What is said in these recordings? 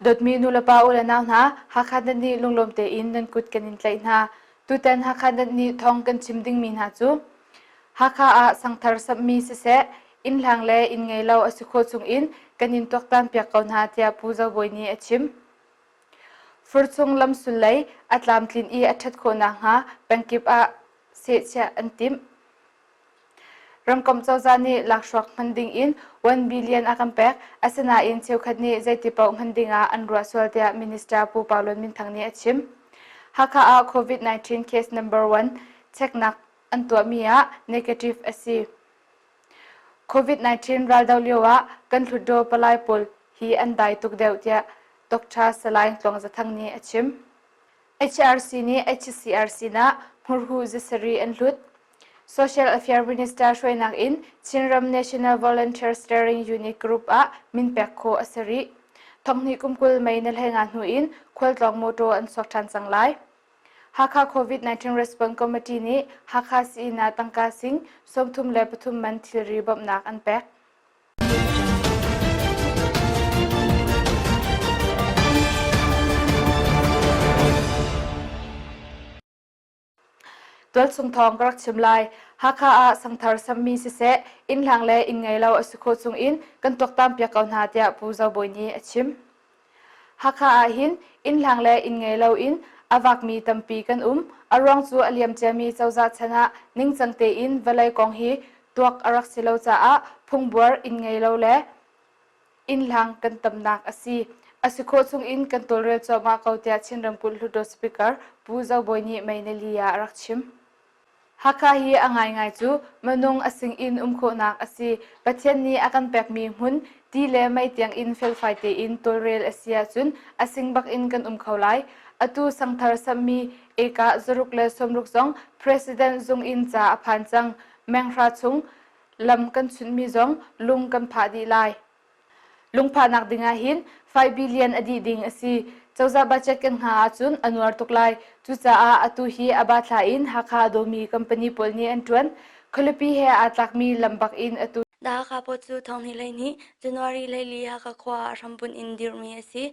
Dawtmi nulepa u le nau hna, Hakha Net nih lunglawm tein nan kut kan in tlaih hna. Tutan Hakha Net nih thawng kan chim dingmi hna cu Hakha ah sangthar samhmi siseh, inn hlang le inn ngei lo a si khawh chung in kan in tuaktan piak ko hna tiah Pu Zo Bawi nih a chim. Furcung lam sulei a tlamtlin i a ṭhat khawh nakhnga pengkip ah sehchiah an timh. Ramkomh cozah nih lakhruak hman dingin 1 billion a kan pek, asinain cheukhat nih zeiti paoh hman dingah an ruah sual tiah Minister Pu Parlon Min Thang nih a chim. Hakha ah COVID-19 case number one cheknak an tuahmi ah negative a si. COVID-19 raldoh lioah kan Hluttaw palai pawl hi an dai tuk deuh tiah Dr. Salain Tluang Zathang nih a chim. HRC nih HCR sinah hmurhu zasari an hlut. Social Affair Minister hruainak in Chinram National Volunteer Steering Unit Group ah min pek kho a si rih. Thonghni kum kul mei na hleinga hnu in khualtlawng mawtaw an suak ṭhan cang lai. Hakha COVID-19 Response Committee nih Hakha sii-inn tangka sing sawmthum le pathum man thilri bawmhnak an pek. Tualsung thawng ka rak chim lai. Hakha ah sangthar sammi siseh, inn hlang le inn ngei lo a si kho chung in kan tuaktan piak ko hna tiah Pu Zo Bawi nih a chim. Hakha ahhin innhlang le inn ngei loin a vakmi tampi kan um. A ruang cu a liam ciami cozah chan ah ningcang tein vawlei kong hi tuak a rak si lo caah phungbuar inn ngei lo le innhlang kan tamnak a si. A si khawh chungin kan tawlrel cuahmah ko tiah Chin ramkulh Hluttaw Speaker Pu Zo Bawi nih Mei Nali ah a rak chim. Hakha hi a ngaingai cu minung a sinin um khawhnak a si. Pathian nih a kan pekmi hmun, ti le mei tiangin felfai tein tawlrel a si ahcun a sing bakin kan um kho lai. Atu Sangthar samhmi ekah zaruk le sawmruk zong President zung in ca a phan cang. Meng hra chung lam kan chunhmi zong lung kan phah dih lai. Lungphahnak dingah hin 5 billion a dih ding a si. Cozah budget kan hna ahcun a nuar tuk lai. Cucaah atu hi a ba thla in Hakha dawmi company pawl nih an ṭuan. Khualipi he aa tlakmi lam bak in atu The Hakha Post cu thonghnih lei nih January lei li Hakha khua ah hrambunh in dirhmi a si.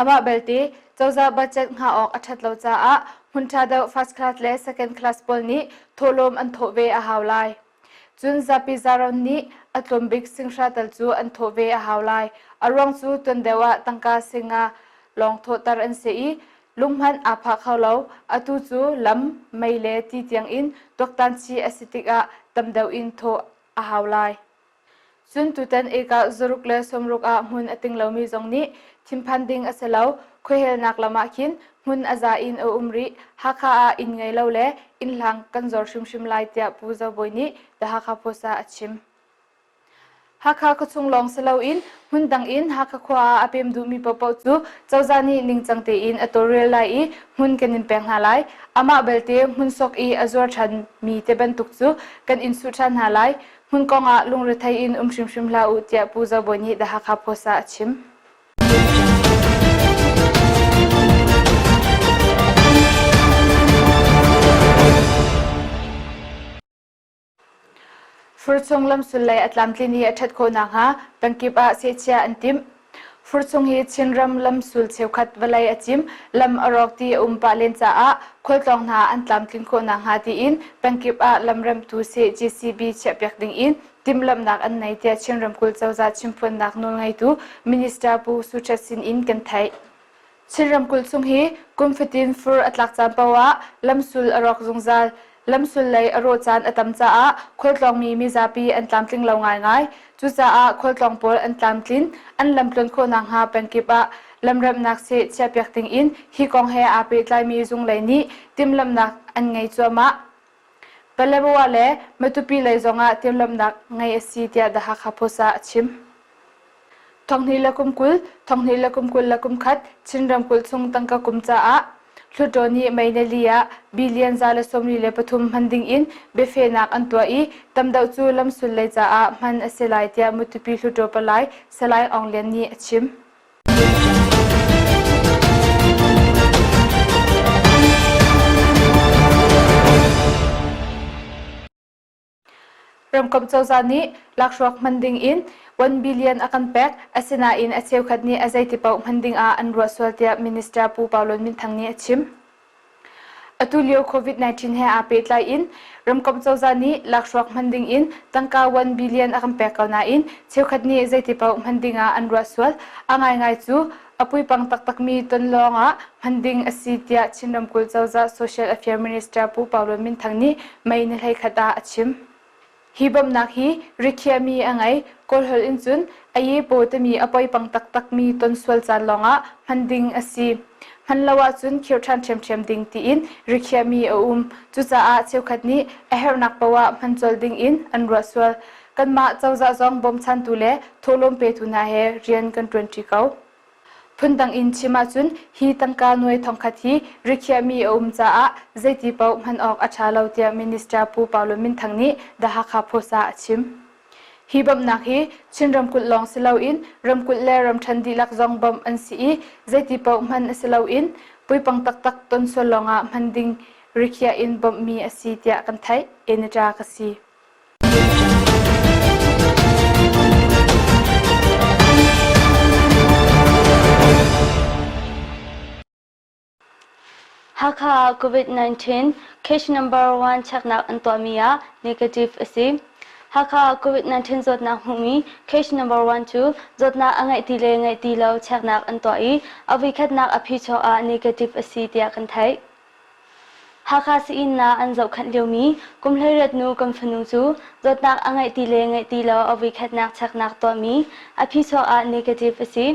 Amah belte, cozah budget hngah awk a ṭhat lo caah hmun ṭha deuh first class le second class pawl nih thawhlawm an thawh ve a hau lai. Cun zapi zaron nih a tlawm bik singhra tal cu an thawh ve a hau lai. A ruang cu tuan deuh ah tangka singa lawng thawhter an si i lunghmanh aa pha kho lo. Atu cu lam, mei le ti tiangin tuaktan chih a si tikah tam deuh in thawh a hau lai. Cun tutan ekah zaruk le sawmruk ah hmun a ting lomi zong nih thinphan ding a si lo. Khuahelnak lam ah khin hmun a za in a um rih. Hakha ah inn ngei lo le innhlang kan zawr hrimhrim lai tiah Pu Zo Bawi nih The Hakha Post ah a chim. Hakha khuachung lawng si loin hmun dang in Hakha khua ah a pem duhmi paohpaoh cu cozah nih ningcang tein a tawlrel lai i hmun kan in pek hna lai. Amah belte hmun sok i a zuar ṭhanmi te bantuk cu kan in suh ṭhan hna lai. Hmun kong ah lungrethei in um hrimhrim hlah u tiah Pu Zo Bawi nih The Hakha Post ah a chim. Furchung lamsul lei a tlamtlin i a ṭhat khawh nakhnga pengkip ah sehchia an timh. Furcung i Chinram lamsul cheukhat vawlei a cim, lam a rawk ti a um pah len caah khualtlawng hna an tlamtlin khawh nakhnga tiin pengkip ah lamremtu CGCB chiahpiak ding in timhlamhnak an nei tiah Chin ramkulh cozah chimphuannak nawlngeitu Minister Pu Su Htet Sin in kan theih. Chin ramkulh chung hi kum fatin fur a tlak caan paoh ah lamsul a rawk zungzal. Lamsul lei a rawh caan a tam caah khualtlawngmi mizapi an tlamtling lo ngaingai. Cucaah khualtlawng pawl an tlamtlin, an lamtluan khawh nakhnga pengkip ah lamremhnak seh chiahpiak ding in hi kong he aa pehtlaimi zung lei nih timhlamhnak an ngei cuahmah. Palerua le Matupi lei zongah tirlawmnak ngei a si tiah The Hakha Post ah a chim. Thonghni le kum kul, thonghni le kum kul le kum khat Chin ramkulh chung tangka kum caah Hluttaw nih May ni li ah billion za le sawmli le pathum hman ding in biafehnak an tuah i tamdeuh cu lamsul lei caah hman a si lai tiah Matupi Hluttaw palai Salai Aung Lian nih a chim. Ramkomh cozah nih lakhruak hman dingin 1 billion a kan pek, asinain a cheukhat nih a zeiti paoh hman dingah an ruah sual tiah Minister Pu Paulun Minthang nih a chim. Atulio COVID-19 he aa pehtlai in ramkomh cozah nih lakhruak hman ding in tangka 1 billion a kan pek ko nain cheukhat nih zeiti paoh hman ding ah an ruah sual. A ngaingai cu a puipang taktakmi ton lawng ah hman ding a si tiah Chin ramkulh cozah social affairs minister Pu Pau Luan Min Thang nih May ni hlei khat ah a chim. Hi bawmhnak hi rithiami a ngei, Kawl holh in cun Ayepaw timi a poipang taktakmi tonsual caan lawngah hman ding a si. Hman lo ahcun khirh ṭhan ṭhiamṭhiam ding tiin rithiami a um. Cucaah cheukhat nih a herhnak paoh ah hman colh dingin an ruah sual. Kanmah cozah zong bawmchantu le thawhlawm petu hna he rian kan ṭuanṭi ko. Phundang in chim ahcun hi tangka nuai thongkhat hi rikhiahmi a um caah zeiti paoh hman awk a ṭha lo tiah Minister Pu Paulo Minthang nih The Hakha Post ah a chim. Hi bawmhnak hi Chin ramkulh lawng si loin ramkulh le ramṭhan dihlak zong bawmh an si i zeiti paoh hman a si loin puipang taktak ton sual lawngah hman ding rikhiah in bawmhmi a si tiah kan theih. Enetra ka si. Hakha COVID-19 case number 1 cheknak an tuahmi ah negative a si. Hakha COVID-19 zawtnak hmuhmi case number 1 cu zawtnak a ngeih ti le ngeih ti lo cheknak an tuah i a voikhatnak a phi chuah ah negative a si tiah kan theih. Hakha Sii-innah an zohkhanh liomi kum hleiriat nu kan fanu cu zawtnak a ngeih ti le ngeih ti lo a voikhatnak cheknak tuahmi a phi chuak ah negative a si.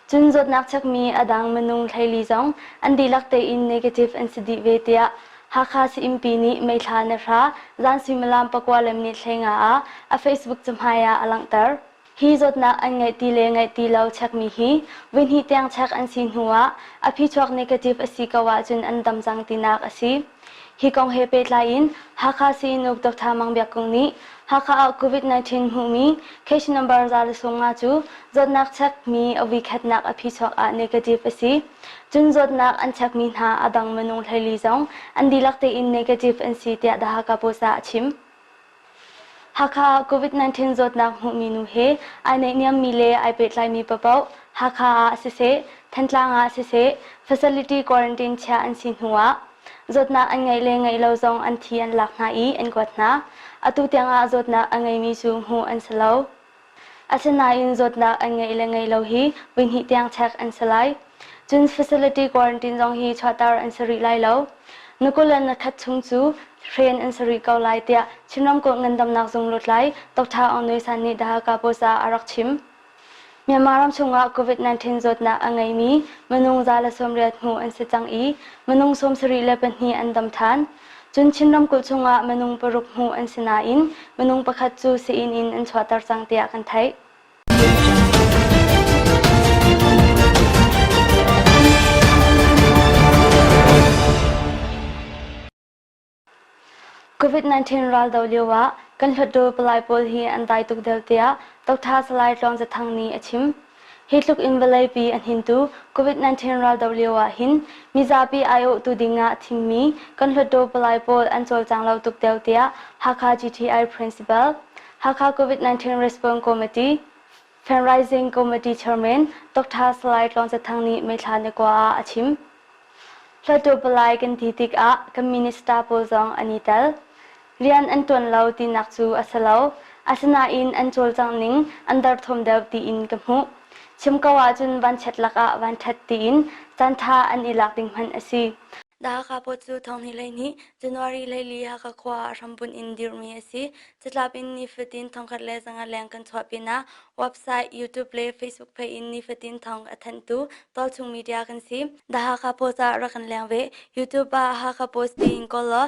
Cun zawtnak chekmi a dang minung hleili zong an dihlak tein negative an si dih ve tiah Hakha Sii-innpi nih meithla na hra, zan suimilam pakua le minit hleinga ah a Facebook cahmai ah a langhter. Hi zawtnak an ngeih ti le ngeih ti lo chekmi hi voihnih tiang chek an si hnu ah a phichuak negative a si ko ahcun an dam cang tinak a si. Hi kong he pehtlai in Hakha Sii-inn-uk Doctor Mang Biak Kung nih Hakha ah Covid-19 hmuhmi case number za le sung nga cu zawtnak chekmi a vuikhatnak a phichuak ah negative a si. Cun zawtnak an chekmi hna a dang minung hleili zong an dihlak tein negative an si tiah The Hakha Post ah a chim. Hakha COVID-19 zawtnak hmuhmi nu he ai naihniammi le ai pehtlaimi papoh Hakha ah siseh, Thantlang ah siseh facility quarantine chiah an si hnuah zawtnak an ngeih le ngeih lo zong an thi an lak hna i an kuat hna. Atu tiangah zawtnak a ngeimi cu hmuh an si lo. Asinain zawtnak an ngeih le ngei lo hi voihnih tiang check an si lai. Cun facility quarantine zong hi chuahter an si rih lai lo. Nukulan nakhat chung cu train an si rih ko lai tiah Chin Ramkulh Ngandamnak Zung lutlai Dr. Aung Nui San nih The Hakha Post ah a rak chim. Myanmar ram chungah COVID-19 zawtnak a ngeimi minung za le sawmriat hmuh an si cang i minung sawmsarih le pahnih an dam than. Cun Chin ramkulh chungah minung paruk hmuh an si nain minung pakhat cu sii-inn in an chuahter cang tiah kan theih. COVID-19 raldo lioah kan hlutdaw palai pawl hi an dai tuk deuh tiah Dr. Salai Tluang Za Thang nih a chim. Hi tluk in vawleipi a hnintu Covid-19 raldoh lio ah hin mizapi aiawhtu ding ah a thimmi kan hluttaw palai pawl an cawlcang lo tuk deuh tiah Hakha GTI Principal, Hakha Covid-19 Response Committee, Fundraising Committee Chairman Doctor Salai Tlawng Za Thang nih meithla na kua ah a chim. Hluttaw palai kan ti tik ah kan minister pawl zong an i tel. Rian an ṭuan lo tinak cu a si lo, asinain an cawlcangh ning an derthawm deuh tiin ka hmuh. Chim ko ahcun vanchiat lakah vanṭhat tiin caanṭha an i lak ding hmanh a si. The Hakha Post cu thonghnih lei nih January leili Hakha khua ah hrambunh in dirhmi a si. Catlap in nifatin thongkhat le zangat leng kan chuah pinah website, YouTube le Facebook page in nifatin thong a thanhtu tualchung media kan si. The Hakha Post ah rak kan leng ve. YouTube ah Hakha Post tiin kawl law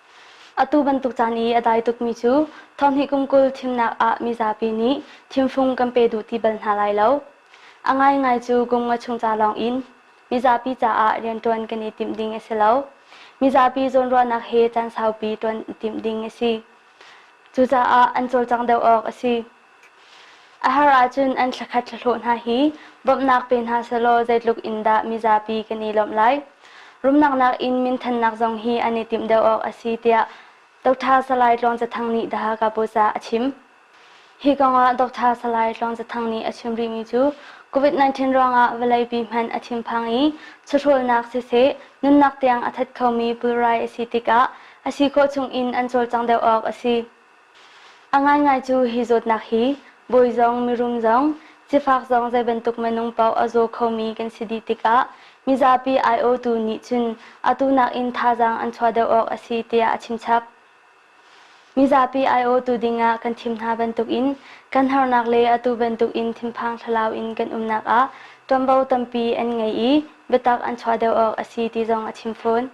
Atu bantuk caan i a dai tukmi cu thawhni kum kul thimnak ah mizapi nih thimfung kan pe duh ti bal hna lai lo. A ngaingai cu kum ngua chung ca lawng in mizapi caah rianṭuan kan i timh ding a si lo. Mizapi zawnruahnak he caan saupi ṭuan i timh ding a si. Cucaah an cawlcang deuh awk a si. A har ahcun an thlakhat thlahlawh hna hi bawmhnak pe hna selaw zeitluk in dah mizapi kan i lawmh lai. Rumnak nakin minthannak zong hi an i timh deuh awk a si tiah Dr. Salai Tluang Za Thang nih The Hakha Post ah a chim. Hi kongah Dr. Salai Tluang Za Thang nih a chim rihmi cu COVID-19 ruangah vawleipi hmanh a thinphang i sahrolnak siseh nunnak tiang a that khomi pulrai a si tikah a si khawh chung in an cawlcang deuh awk a si. A ngaingai cu hi zawtnak hi bawi zong mirum zong sifak zong zei bantuk minung paoh a zaw khomi kan si dih tikah mizapi aiawhtu nih cun atu nakin thazaang an chuah deuh awk a si tiah a chimchap. Mizapi aiawhtu dingah kan thim hna bantukin kan harnak le atu bantukin thinphang thlalau in kan umnak ah ṭuanvo tampi an ngei i biatak an chuah deuh awk a si ti zong a chim fawn.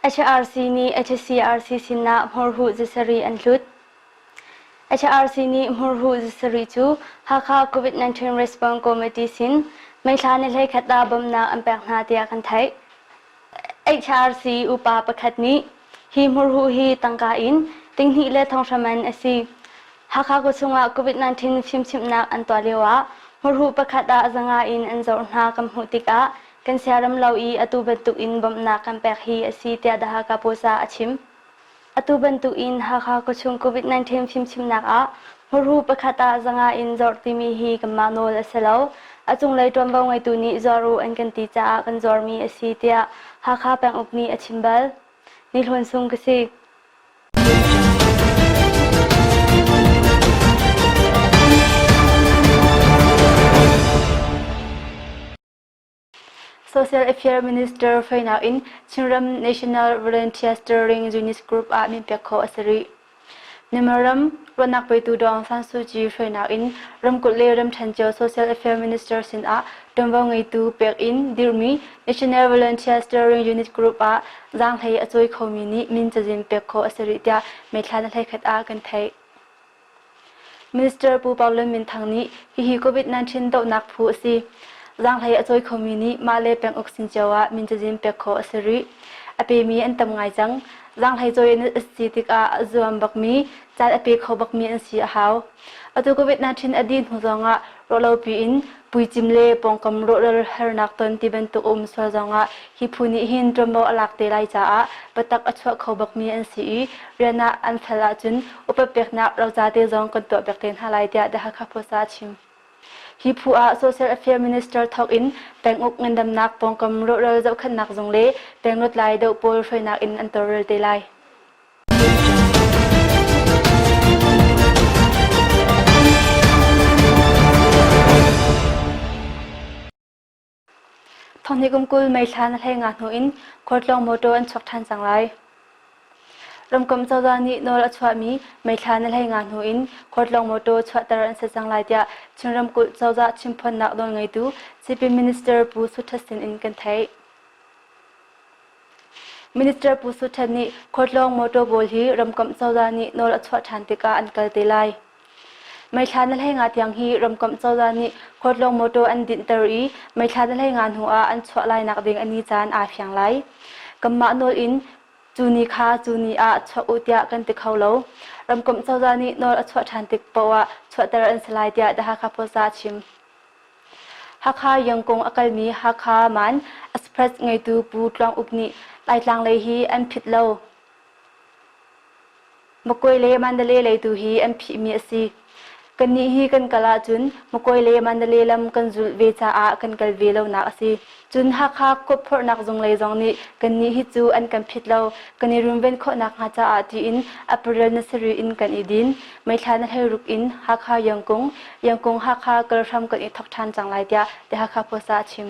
HRC nih HCRC sinah hmurhuh zasarih an hlut. HRC nih hmurhuh zasarih cu Hakha COVID-19 Response Committee sin meithla le hlei khat ah bawmhnak an pek hna tiah kan theih. HRC upa pakhat nih hi hmurhuh hi tangka in tinghnih le thonghram an a si. Hakha khuachung ah COVID-19 fimchimhnak an tuah lio ah hmurhuh pakhat ah zanga in an zawrh hna kan hmuh tikah kan siaram lo i atu bantuk in bawmhnak kan pek hi a si tiah The Hakha Post ah a chim. Atu bantukin Hakha khuachung COVID-19 fimchimnak ah muru pakhat ah zanga in zawrh timi hi kanmah nawl a si lo. A cunglei ṭuanvo ngeitu nih zuar u an kan ti caah kan zuarmi a si tiah Hakha penguk nih a chim bal. Ni Hlun Sung ka si. Social Affairs Minister fawinak in Chinram National Volunteer Steering Unit Group ah min pek khawh a si rih. Myanmar ram ruahnak petu Dong San Suu Kyi hruainak in ramkulh le ramṭhen cio Social Affairs Minister sinah ṭuanvo ngeitu pek in dirhmi National Volunteer Steering Unit Group ah zaanghlei a cawi khomi nih min cazin pek khawh a si rih tiah meithla hnahlei khat ah kan theih. Minister Pu Parlin Minthang nih hihi COVID-19 dohnak phu a si. Zaanghlei a cawi khomi nih mah le peng uk sin cio ah min cazin pek khawh a si rih. A pemi an tam ngai cang. Zaanghlei cawi an a si tikah a zuam bakmi, caan a pe kho bakmi an si a hau. Atu COVID-19 a dih hnu zongah Rawlopi in puicim le pawngkam rawhral hernak ton ti bantuk a um sual zongah hi phu nih hin ṭuanvo a lak te lai caah biatak a chuah kho bakmi an si i rian ah an fel ahcun upat peknak roca te zong kan tuah piak te hna lai tiah The Hakha Post ah a chim. Hi phu ah Social Affairs Minister thawk in peng uk ngandamnak pawngkam rawhral zohkhenhnak zung le peng lutlai doh pawl hruainak in an tawlrel te lai. Thawngnih kum kul meithla na hlei nga hnu in khualtlawng motor an chuak ṭhan cang lai. Ramkomh cozah nih nawl a chuahmi meithla na hlei nga hnu in khualtlawng motor chuahter an si cang lai tiah Chin ramkulh cozah chimphuannak nawl ngeitu CP Minister Pu Sut Htet Sin in kan theih. Minister Pu Su Ṭhen nih khualtlawng motor pawl hi ramkomh cozah nih nawl a chuah ṭhan tikah an kal te lai. Meithla na hlei nga tiang hi ramkomh cozah nih khualtlawng motor an dinhter i meithla na hlei nga hnu ah an chuah lainak ding a ni caan aa fiang lai. Kanmah nawl in cu ni kha cu ni ah chuah u tiah kan ti kho lo. Ramkomh cozah nih nawl a chuah ṭhan tik paoh ah chuahter an si lai tiah The Hakha Post ah a chim. Hakha Yangkung a kalmi Hakha Man Express ngeitu Pu Tluang Uk nih Laitlang lei hi an phit lo. Makuai le Mandalay lei tu hi an phihmi a si. Kannih hi kan kal ahcun Makuai le Mandalay lam kan zulh ve caah kan kal ve lonak a si. Cun Hakha kawpphorhnak zunglei zong nih kannih hi cu an kan phit lo, kan i runven khawhnak hnga caah tiin April na sarih in kan i din. Meithla na hlei ruk in Hakha Yangkung, Yangkung-Hakha kal hram kan i thawk ṭhan cang lai tiah The Hakha Post ah a chim.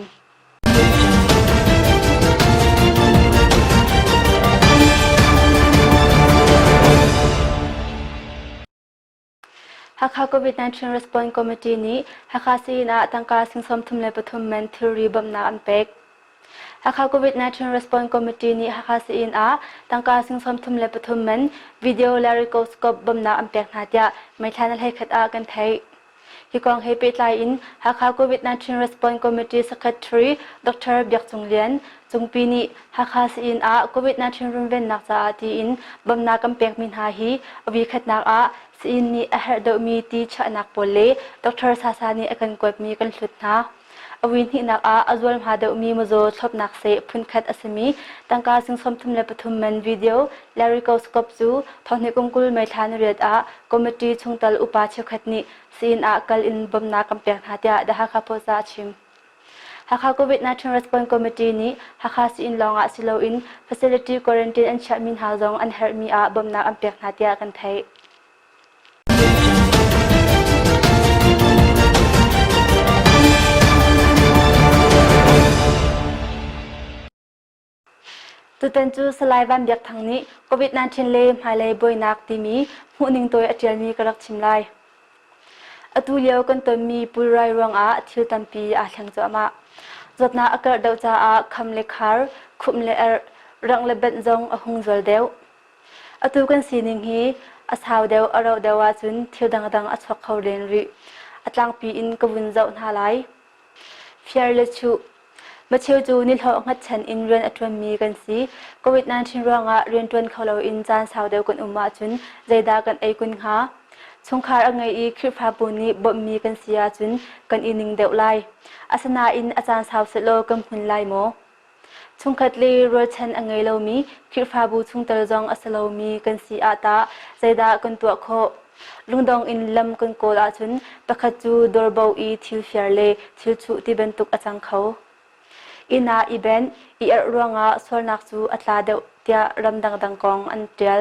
Hakha COVID-19 Response Committee nih Hakha Sayin ah tangka sing sawm thum le pathum men thilri bawmhnak an pek. Hakha COVID-19 Response Committee nih Hakha Sayin ah tangka sing sawm thum le pathum men video le ricoscope bawmhnak an pek hna tiah meithla na hlei khat ah kan theih. Hi kong he pehtlai in Hakha COVID-19 Response Committee Secretary Dr. Biak Cung Lian, Cungpi nih Hakha Sain ah Covid-19 runvennak caah tiin bamnak kan pekmi hna hi a vikhatnak ah Sain nih a herh deuhmi ti chiahnak pawl le Doctor Sasa nih a kan kuatmi kan hlut hna. A vuihnihnak ah a zualhma deuhmi mawzaw thlawpnak seh phunkhat a simi tangka sing sawmthum le pathum man video larycoscope cu thonghni kum kul meithla na riat ah committee chungtel upa cheukhat nih Sain ah kal in bamnak kan pek hna tiah The Hakha Post ah a chim. Hakha COVID-19 response committee nih Hakha sii-inn lawngah si loin facility quarantine an chiahmi hna zong an herhmi ah bawmhnak an pek hna tiah kan theih. Tutan cu Salai Van Biak Thang nih COVID-19 le hmailei buainak timi hmuhning tawi a ṭialmi ka rak chim lai. Atu lio kan tonmi pulrai ruangah thil tampi aa thleng cuahmah. Zawtnak a karh deuh caah kham le khar, khumh le erh, rangh le benh zong a hung zual deuh. Atu kan sining hi a sau deuh a rauh deuh ahcun thil dangdang a chuak kho len rih. A tlangpi in ka vun zoh hna lai. Fiar le chuh. Macheu cu nihlawh hngatchan in rian a ṭuanmi kan si. COVID-19 ruangah rian ṭuan kho loin caan sau deuh kan um ahcun zeidah kan ei kun hnga? Chungkhar a ngei i Khrihfabu nih bawmhmi kan si ahcun kan i ning deuh lai. Asinain a caan sau sehlaw kan hmun lai maw? Chungkhat le rualchan a ngei lomi Khirhfabu chungtel zong a si lomi kan si ah tah zeidah kan tuah khawh? Lungdong in lam kan kawl ahcun pakhat cu dawrbo i thil fiar le thil chuh ti bantuk a cang kho. Inn ah i benh, i erh ruangah sualnak cu a tla deuh tiah ram dangdang kong an ṭial.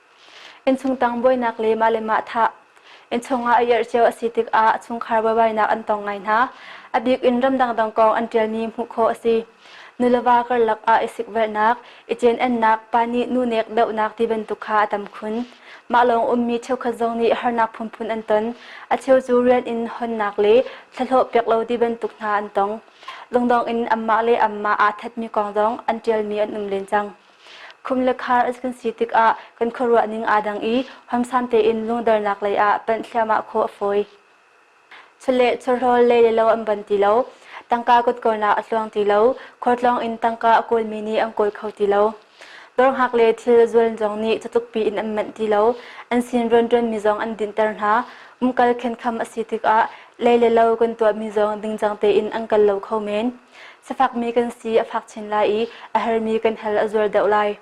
Innchungtang buainak le mah le mah thah. Innchung ah a irh cio a si tikah a chungkhar buaibainak an tong ngai hna. A bik in ram dangdang kong an ṭialmi hmuh khawh a si. Nuleva karlak ah i sikvelhnak, i cenennak, pa nih nu nek dohnak ti bantuk kha a tam khun. Mah lawng ummi cheukhat zong nih harnak phunphun an ton. A cheu cu rian in honnak le thlahlawh pek lo ti bantuk hna an tong. Lungdong in anmah le anmah aa thatmi kong zong an ṭialmi an um len cang. Khum le khar an kan si tikah kan khuaruah ning aa dang i huamsam tein lungdernak lei ah panh thliahmah khawh a fawi. Chawleh, chawhlawl le lelo an ban ti lo. Tangka kutkornak a tluang ti lo. Khuartlawng in tangka a kawlmi nih an kawl kho ti lo. Dawrhngak le thil zual zong nih catlukpi in an manh ti lo. An sin rianṭuanmi zong an dinhter hna. Umkal khenkham a si tikah lei le lo kan tuahmi zong dingcang tein an kal lo kho men. Safakmi kan si a fak chin lai i a hermi kan hell a zual deuh lai.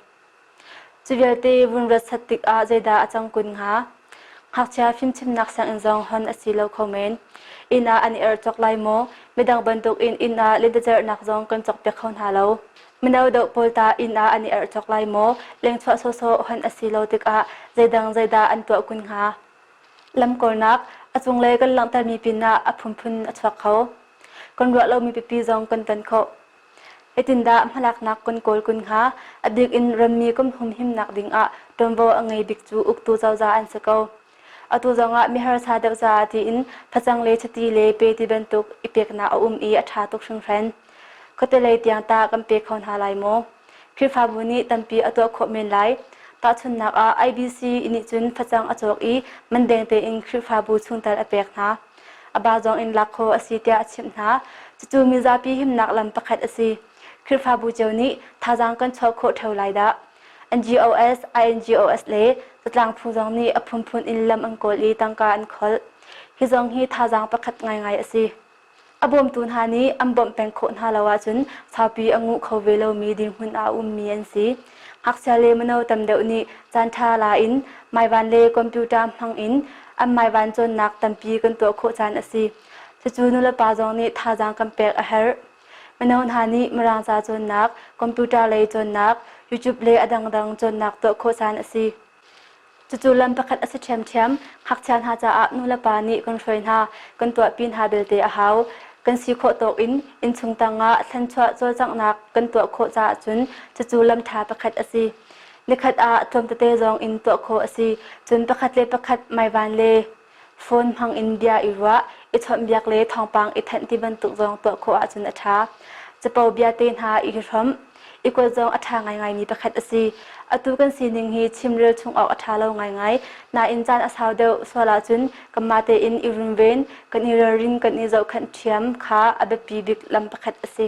Cu vialte vun rat sat tikah zeidah a cang kun hnga? Ngakchia fimchimnak sianginn zong hon a si lo kho men. Inn ah an i er cawk lai maw? Midang bantukin inn ah ledacerhnak zong kan cawkpiak kho hna lo. Mino deuh pawl tah inn ah an i erh cawk lai maw? Lengchuah sawsawh hon a si lo tikah zeidang zeidah an tuah kun hnga? Lamkawlnak a cunglei kan langhtermi pinah a phunphun a chuak kho. Kan ruah lomi pipi zong kan ton khawh. Etindah hmalaknak kan kawl kun hnga? A bik in rammi kan humhimnak dingah ṭuanvo a ngei bik cu uktu cozah an si ko. Atu zongah miharsa deuh caah tiin facang le chati le pe ti bantuk i peknak a um i a ṭha tuk hringhran. Khuatelei tiang ta kan pe kho hna lai maw? Khrihfabu nih tampi a tuah khawh men lai. Tahchunhnak ah, IBC i nih cun facang a cawk i mandeng tein Khrihfabu chungtel a pek hna. A ba zong in lak khawh a si tiah a chimh hna. Cucu mizapi himnak lam pakhat a si. Khrihfabu cio nih thazaang kan chuah khawh ṭheo lai dah. NGOs, INGOs le zatlang phu zong nih a phunphun in lam an kawl i tangka an kholh. Hi zong hi thazaang pakhat ngaingai a si. A bawmtu hna nih an bawmh peng khawh hna lo ahcun saupi a nguh kho ve lomi dirhmun ah a ummi an si. Ngakchia le mino tam deuh nih caanṭha la in maivan le computer hmang in an maivan cawnnak tampi kan tuah khawh caan a si. Cucu nulepa zong nih thazaang kan pek a herh. Mino hna nih Mirang ca cawnnak, computer lei cawnnak, YouTube le a dangdang cawnnak tuah khawh caan a si. Cucu lam pakhat a si ṭhiamṭhiam. Ngakchia hna caah nulepa nih kan hruai hna, kan tuahpi hna belte a hau. Kan si khawh tawk in innchung tangah thlanchuah cawlcanghnak kan tuah khawh caah cun cucu lam ṭha pakhat a si. Nikhat ah tlawm tete zong in tuah khawh a si. Cun pakhat le pakhat maivan le Phone hmang in bia i ruah, i chawnhbiak le thawngpang i thenh ti bantuk zong tuah khawh ahcun a ṭha. Capo biate hna i hrawmh, i kuat zong a ṭha ngaingaimi pakhat a si. Atu kan sining hi chimrel chung awk a ṭha lo ngaingai. Nain caan a sau deuh sual ahcun kanmah tein i runven, kan i ralrin, kan i zohkhenh ṭhiam kha a biapi bik lam pakhat a si.